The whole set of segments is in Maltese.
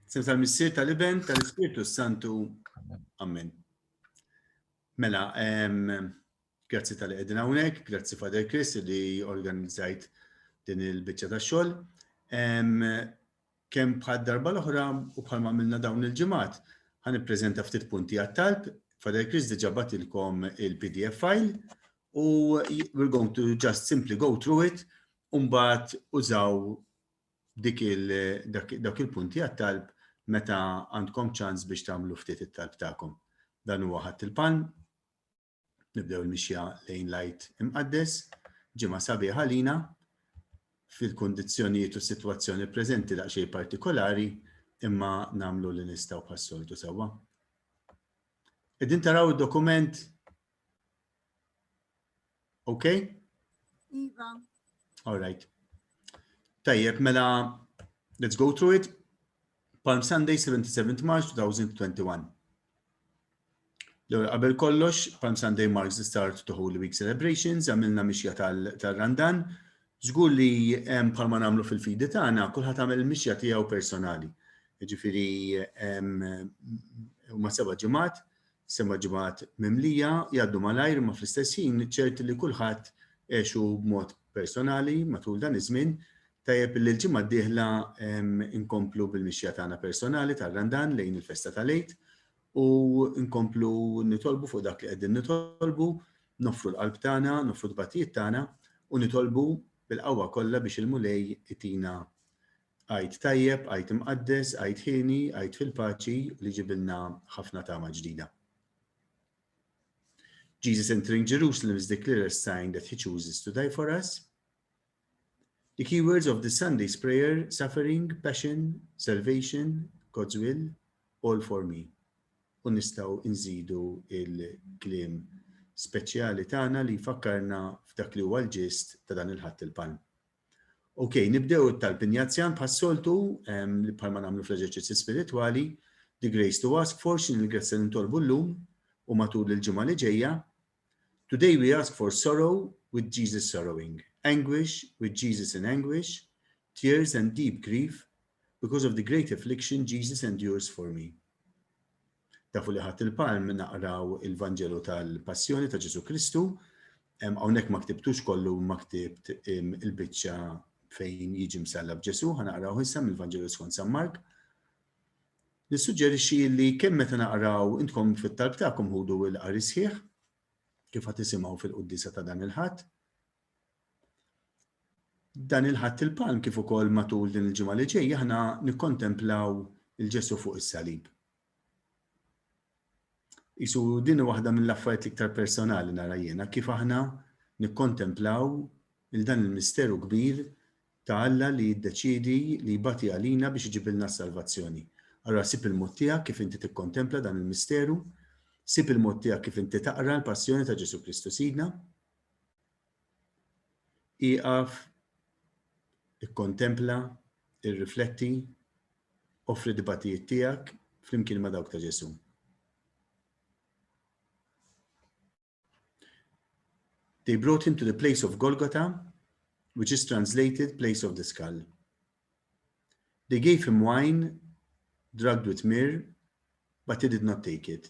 Sem tal-Missier tal-Iben tal-Ispirtu Santu. Amen. Mela, grazzi tal-li għedin għawnek, grazzi Father Chris li organizzajt din il-bicċa ta' xol. Kem bħad darba l-oħra u bħal ma' minna dawn il-ġemat, għan prezenta ftit punti għat-talb, Father Chris diġa batilkom il-PDF file u we're going to just simply go through it un-bat użaw dik dawk il-punti għat-talb meta għandkom ċans biex tagħmlu ftit it-talb tagħkom. Dan huwa ħadd il-palm. Nibdew il-mixja lejn lajt imqaddes, ġimgħa sabiħa lina fil-kundizzjonijiet u s-sitwazzjoni preżenti daqsxejn partikolari imma nagħmlu li nistgħu bħas-soltu sewwa. Qegħdin taraw id-dokument Okay? Iva. All right. Tajjeb, mela, let's go through it. Palm Sunday, 77 March 2021. L-għura qabel kollox, Palm Sunday marks the start to Holy Week celebrations, għamilna mixja tal-Randan. Zgur li palma namlu fil-fidi tagħna, kulħadd għamel mixja tiegħu personali. Ġifieri ma seba' ġimgħat Seba' ġimgħat mimlija jgħaddu malajr imma fl-istess ħin ċert li kulħadd għexu b'mod personali matul dan iż-żmien. Tajjeb li l-ġimgħa d-dieħla nkomplu bil-mixja tagħna personali tar-Randan lejn il-festa tal-Għid u nkomplu nitolbu fuq dak li qegħdin nitolbu, noffru l-qalb tagħna, noffru t-tbatijiet tagħna u nitolbu bil-qawwa kollha biex il-Mulej itina Għid tajjeb, għid imqaddes, għid ħieni, għid fil-paċi li ġibilna ħafna tama ġdida. Jesus entering Jerusalem is declared a sign that he chooses to die for us. The key words of this Sunday's prayer, suffering, passion, salvation, God's will, all for me. U nistaw nżidu il-klim speċjali tagħna li fakkarna f'dak li huwa l-ġist ta' dan il-ħadd il-palm. Ok, nibdew it-talb injazzjan bħas-soltu, bħalma nagħmlu fl-eżerċizzi spiritwali, the grace to ask for x'in il-grazzja li ntolbu llum u matul il-ġimgħa li ġejja. Today we ask for sorrow with Jesus sorrowing, anguish with Jesus in anguish, tears and deep grief because of the great affliction Jesus endures for me. Tafu li ħadd il-palm naqraw il-Vanġelu tal-Passjoni ta' Ġesu Kristu, hawnhekk ma ktibtux kollu ma ktibt il-biċċa fejn jiġi msalla b'Ġesu, ħanaqraw issa mill-Vanġelu skont San Mark. Nissuġġerixxi li kemm meta naqraw intkom fit-talb tagħkom ħudu l-qari sħiħ kif ħad tisimgħu fil-quddisa ta' dan il-ħadd, Dan il-Ħadd il-Palm kif ukoll matul din il-ġimgħa li ġejja aħna nikkontemplaw lil Ġesù fuq is-salib. Isu din waħda mill-affarijiet l-iktar personali nara jiena kif aħna nikkontemplaw il dan il-misteru kbir ta' Alla li jiddeċidi li jbati għalina biex iġibilna s-salvazzjoni. Allora sib il-mod tiegħek kif inti tikkontempla dan il-misteru, sib il-mod tiegħek kif inti taqra l-passjoni ta' Ġesu Kristu Sidna, Ieqaf, ikkontempla, irrifletti, offri d-dbattijiet tiegħek flimkien ma' dawk ta' Ġesù. They brought him to the place of Golgotha, which is translated place of the skull. They gave him wine drugged with myrrh, but he did not take it.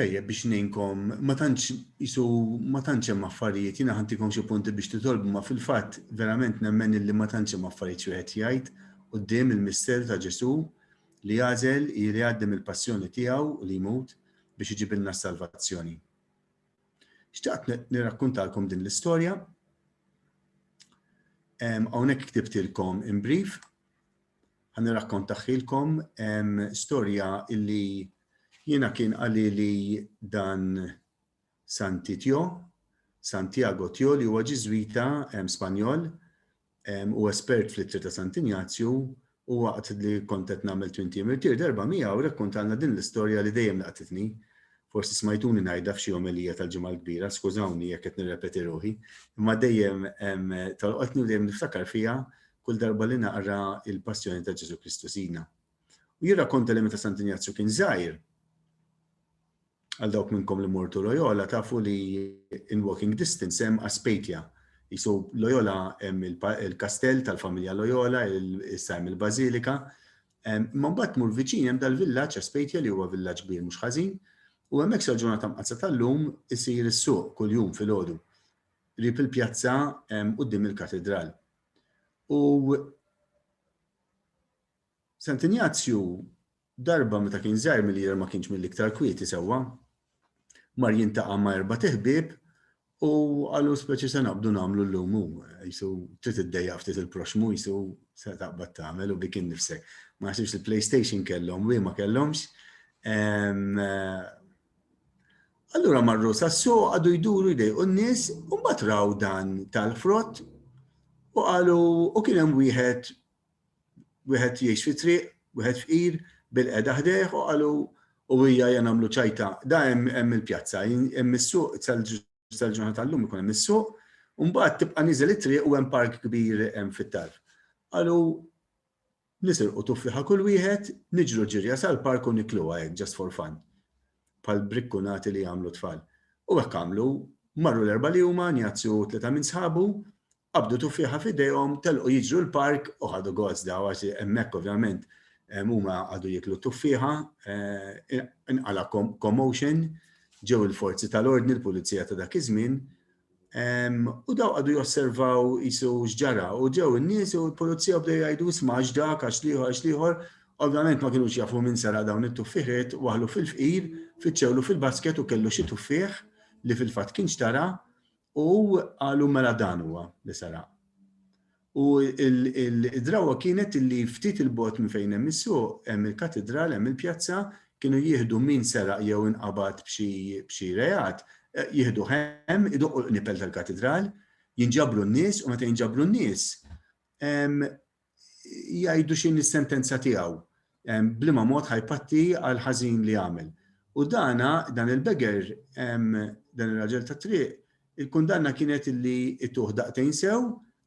Tajjeb biex ninkom, ma tantx isu ma tantx hemm affarijiet, jiena ħantikom xi punti biex titolbu ma fil-fatt verament nemmen illi ma tantx hemm affarijiet xi wieħed jgħid quddiem il-misteru ta' Ġesù li jagħżel li jgħaddi mill-passjoni tiegħu u li jmut biex iġibilna s-salvazzjoni. Xtaqt nirrakkuntalkom din l-istorja. Hawnhekk ktibtilkom in brief. Ħa nirrakkontaħħilkom storja illi jiena kien qalili dan Santi Tjo, Santiago Tjo li huwa Ġiżwita Spanjol u espert fl-ittri ta' Sant Injazju u waqt li kont qed nagħmel twin team irtir darba miegħu rrakkontalna din l-istorja li dejjem laqtitni. Forsi smajtuni ngħidha f'xi omelija tal-Ġimgħa l-Kbira, skużawni jekk qed nirrepeti ruħi, imma dejjem tolqotni u dejjem niftakar fiha kull darba li naqra il-Passjoni ta' Ġesù Kristu Sidna. U jirrakkonta li meta Sant Injazju kien żgħir, għal dawk minnkom li mortu Loyola tafu li in walking distance hemm Aspetia. Jisu Loyola hemm il-kastell tal-familja Loyola, issa hemm il-Bażilika, Imma mbagħad tmur viċin hemm dal-villaġġ Aspejtja li huwa villaġġ kbir mhux ħażin, u hemmhekk sal-ġurnata mqaddsa tal-lum isir is-suq kuljum filgħodu, qrib il-pjazza quddiem il-katidral. U Sant Injazju darba meta kien żgħir milli jidher ma kienx mill-iktar kwieti sewwa, mar jintaqa' ma' erbat iħbieb U qalu speċi se naqbdu nagħmlu llum hu, jisu trid iddejja ftit il-proxmu jisu se taqbad tagħmel u bikin nifsek. Ma naħsibx li PlayStation kellhom, wi ma kellhomx. Allura marru sassu għadu jduru jdej u n-nis un batraw dan tal-frott u għalu u kienem wieħed wieħed jgħix fit-triq, wieħed fqir, bil-qegħda ħdejh u qalu u hija ja nagħmlu ċajta. Da hemm hemm il-pjazza, hemm is-suq tal-ġurnata tal-lum ikun hemm is-suq, u mbagħad tibqa' niżel it-triq u hemm park kbir hemm fit-tarf. Qalu nisirqu tuffiħa kull wieħed, niġru ġirja sal-park u nikluha hekk just for fun. Pal brikkunati li jagħmlu tfal. U hekk għamlu, marru l-erba' li huma, njazzu tleta minn sħabu, Qabdu tuffieħa f'idejhom, telqu jiġru l-park u ħadu gost daw għax hemmhekk ovvjament huma qagħdu jieklu t-tuffieħa, inqala' commotion, ġew il-forzi tal-ordni, l-pulizija ta' dak iż-żmien, u daw qagħdu josservaw qisu x'ġara u ġew in-nies u l-pulizija bdew jgħidu isma' għax dak, għax l-ieħor, għax l-ieħor, ovvjament ma kinux jafu min seraq dawn it-tuffieħiet, waħlu fil-fqir, fittxewlu fil-basket u kellu xi tuffieħ li fil-fatt kien xtara, U qalu mela dan huwa li saraq. U id-drawa kienet li ftit il-bot minn fejn hemm is-suq, hemm il-katidral, hemm il-pjazza, kienu jieħdu min seraq jew inqabad b'xi reat, jieħdu hemm, idoqqu l-qnipel tal-katidral, jinġabru n-nies u meta jinġabru n-nies, jgħidu x'inhi s-sentenza tiegħu, b'liema mod ħa jpatti għall-ħażin li għamel. U dana, dan il-begger, dan ir-raġel tat-triq, il-kundanna kienet li jtuh daqtejn sew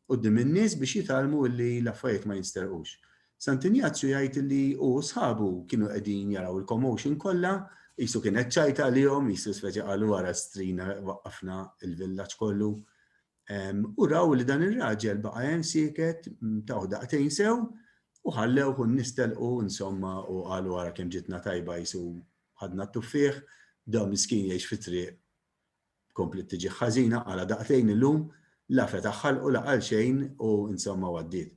quddiem in-nies biex jitgħallmu li l-affarijiet ma jinsterqux. Sant Injazju jgħid li hu u sħabu kienu qegħdin jaraw il-commotion kollha, qisu kien qed tgħajt għalihom, qisu speċi qalu ara strina waqqafna l-villaġġ kollu. U raw li dan ir-raġel baqa' hemm sieket taw daqtejn sew u ħallew u nistelqu insomma u qalu wara kemm ġitna tajba jisu ħadna t-tuffieħ, da miskin jgħix fit-triq komplet tiġi ħażina għala daqtejn illum la fetaħħal u laqal xejn u insomma għaddiet.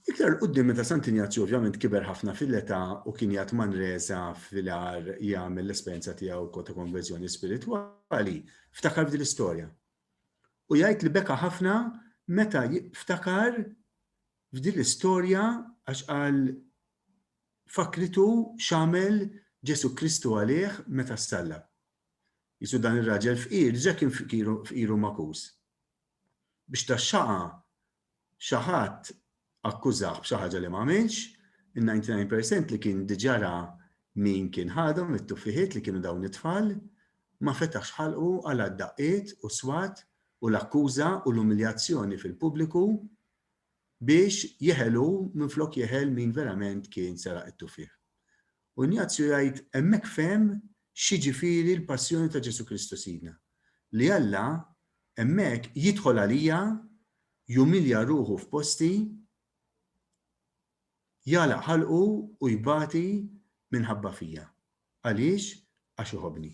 Iktar 'l quddiem meta Sant Injazju ovvjament kiber ħafna fil-età u kien jgħadd Manresa fil-għar jagħmel l-esperjenza tiegħu wkoll ta' konverżjoni spiritwali, ftakar f'din l-istorja. U jgħid li beka ħafna meta ftakar f'din l-istorja għax qal fakkritu x'għamel Ġesù Kristu għalih meta ssalla. Jisu dan ir-raġel fqir, diġà kien fqiru makus. Biex taxxaqa xi ħadd akkużah b'xi ħaġa li m'għamilx, in-99 percent li kien diġà ra min kien ħadhom it-tuffiħiet li kienu dawn it-tfal, ma fetaħx ħalqu għal d-daqqiet u s-swat u l-akkuża u l-umiljazzjoni fil-pubbliku biex jeħel hu minflok jeħel min verament kien seraq it-tuffieħ. U Injazju jgħid, Hemmhekk fehem x'jiġifieri l-passjoni ta' Ġesù Kristu Sidna, li Alla, hemmhekk, jidħol għalija, jumilja ruħu f'posti, jagħlaq ħalqu u jbati minħabba fija. Għaliex? Għax iħobbni.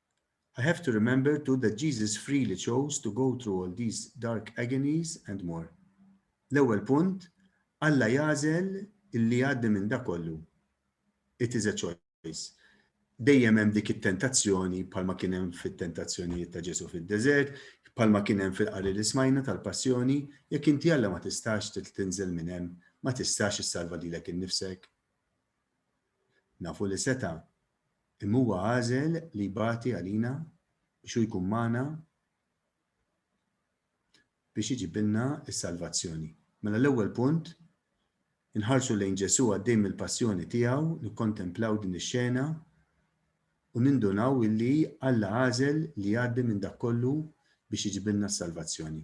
I have to remember too that Jesus freely chose to go through all these dark agonies and more. L-ewwel punt, Alla jagħżel li jgħaddi minn dak kollu. It is a choice. Dejjem hemm dik it-tentazzjoni bħalma kien hemm fit-tentazzjonijiet ta' Ġesu fid-deżert, bħalma kien hemm fil-qari li smajna tal-passjoni, jekk inti Alla ma tistax tinżel minn hemm, ma tistax issalva lilek innifsek. Nafu li seta' Imma huwa għażel li jbati għalina biex hu jkun magħna biex iġibilna s-salvazzjoni. Mela l-ewwel punt, inħarsu lejn Ġesù għaddej mill-passjoni tiegħu, nikkontemplaw din ix-xena u nindunaw illi Alla għażel li jgħaddi minn dak kollu biex iġibilna s-salvazzjoni.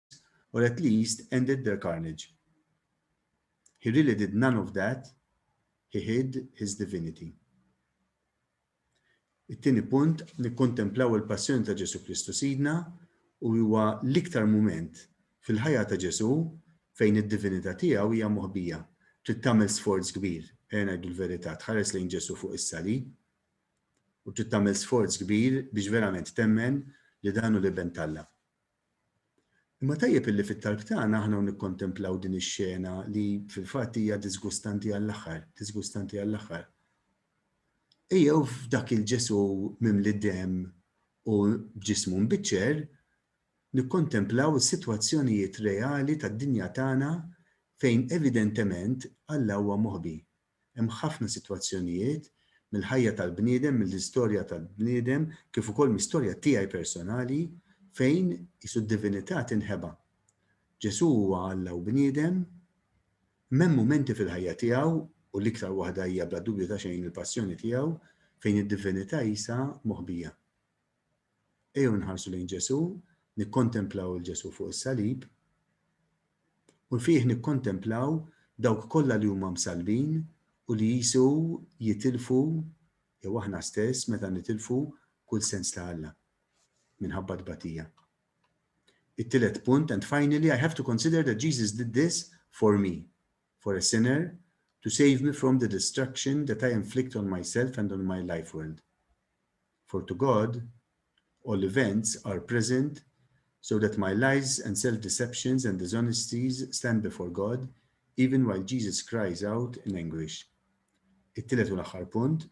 or at least ended their carnage. He really did none of that, he hid his divinity. It-tieni punt, nikkontemplaw il-passjoni ta' Ġesu Kristu Sidna u huwa l-iktar mument fil-ħajja ta' Ġesu fejn id-divinità tiegħu hija moħbija. Trid tagħmel sforz kbir, ejja ngħidu l-verità, tħares lejn Ġesu fuq is-salib u trid tagħmel sforz kbir biex verament temmen li dan hu l-iben talla. Imma tajjeb illi fit-talb tagħna aħna nikkontemplaw din ix-xena li fil-fatt hija diżgustanti għall-aħħar, diżgustanti għall-aħħar. Ejjew f'dak il-Ġesu mimli demm u b'ġismu mbiċċer nikkontemplaw is-sitwazzjonijiet reali tad-dinja tagħna fejn evidentement Alla huwa moħbi. Hemm ħafna sitwazzjonijiet, mill-ħajja tal-bniedem, mill-istorja tal-bniedem, kif ukoll mis-storja tiegħi personali, fejn qisu d-divinità tinħeba. Ġesù huwa Alla u bniedem, imma hemm mumenti fil-ħajja tiegħu, u l-iktar waħda hija bla dubju ta' xejn il-passjoni tiegħu, fejn id-divinità qisha moħbija. Ejjew inħarsu lejn Ġesù, nikkontemplaw il Ġesù fuq is-salib, u fih nikkontemplaw dawk kollha li huma msalbin u li jisu jitilfu jew aħna stess meta nitilfu kull sens ta' Alla minħabba tbatija. It-tielet punt, and finally, I have to consider that Jesus did this for me, for a sinner, to save me from the destruction that I inflict on myself and on my life world. For to God, all events are present, so that my lies and self-deceptions and dishonesties stand before God, even while Jesus cries out in anguish. It-tielet u l-aħħar punt,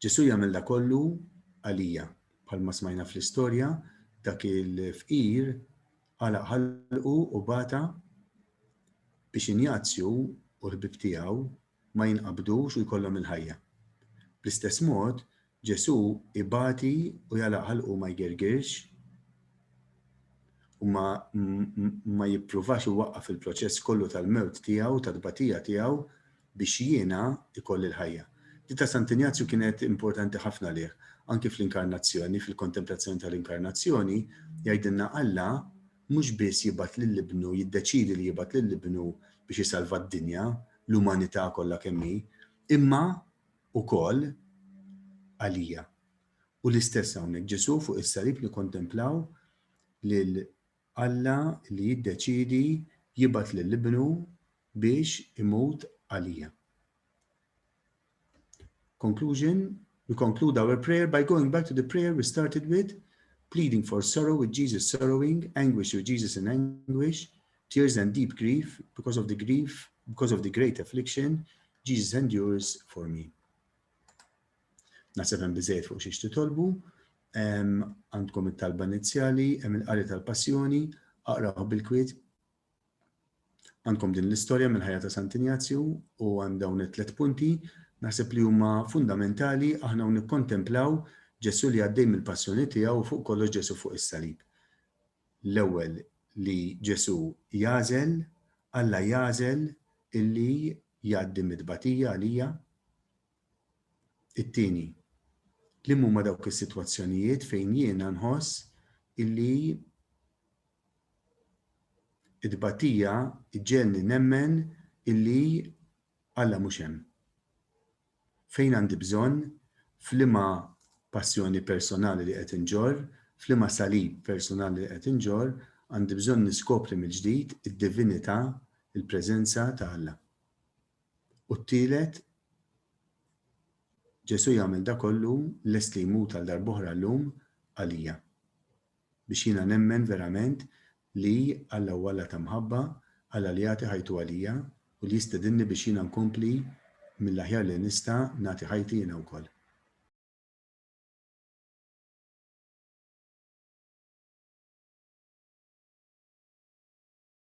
Ġesu jagħmel da kollu għalija, bħalma smajna fl-istorja, dak il-fqir għala ħalqu u bata biex injazzju u l-ħbib tiegħu ma jinqabdux u jkollhom il-ħajja. Bl-istess mod, Ġesù ibati u jagħlaq ħalqu u ma jgirgirx u ma, ma jippruvax iwaqqaf il-proċess kollu tal-mewt tiegħu u tat-tbatija tiegħu biex jiena ikolli l-ħajja. Di ta' Sant Injazju kienet importanti ħafna lih. Anki fl-Inkarnazzjoni, fil-kontemplazzjoni tal-Inkarnazzjoni, jgħidilna Alla mhux biss jibgħat lil Ibnu, jiddeċiedi li jibgħat lil Ibnu biex isalva d-dinja, l-umanità kollha kemm hi, imma wkoll għalija. U l-istess hawnhekk, Ġesù fuq is-salib nikkontemplaw lil Alla li jiddeċiedi jibgħat lil Ibnu biex imut għalija. Conclusion, we conclude our prayer by going back to the prayer we started with, pleading for sorrow with Jesus sorrowing, anguish with Jesus in anguish, tears and deep grief because of the grief, because of the great affliction, Jesus endures for me. Nasab hemm biżejjed fuq xiex titolbu, għandkom it-talba inizjali, hemm il-qari tal-passjoni, aqraw bil-kwiet, Għandkom din l-istorja mill-ħajja ta' Sant Injazju u għand dawn it-tliet punti naħseb li huma fundamentali aħna u nikkontemplaw Ġesù li għaddej mill-passjoni tiegħu u fuq kollox Ġesù fuq is-salib. L-ewwel li Ġesù jagħżel, Alla jagħżel illi jgħaddi mit-tbatija għalija, It-tieni, li huma dawk is-sitwazzjonijiet fejn jiena nħoss illi t-tbatija ġġegħelni nemmen illi Alla mhux hemm? Fejn għandi bżonn, f'liema passjoni personali li qed inġorr, f'liema salib personali li qed inġorr, għandi bżonn niskopri mill-ġdid id-divinità, il-preżenza ta' Alla? U t-tielet, Ġesù jagħmel dak kollu, lest li jmut għal darb'oħra llum għalija. Biex jiena nemmen verament li Alla hu Alla ta' mħabba, Alla li jagħti ħajtu għalija u li jistedinni biex jiena nkompli mill-aħjar li nista' nagħti ħajti jiena wkoll.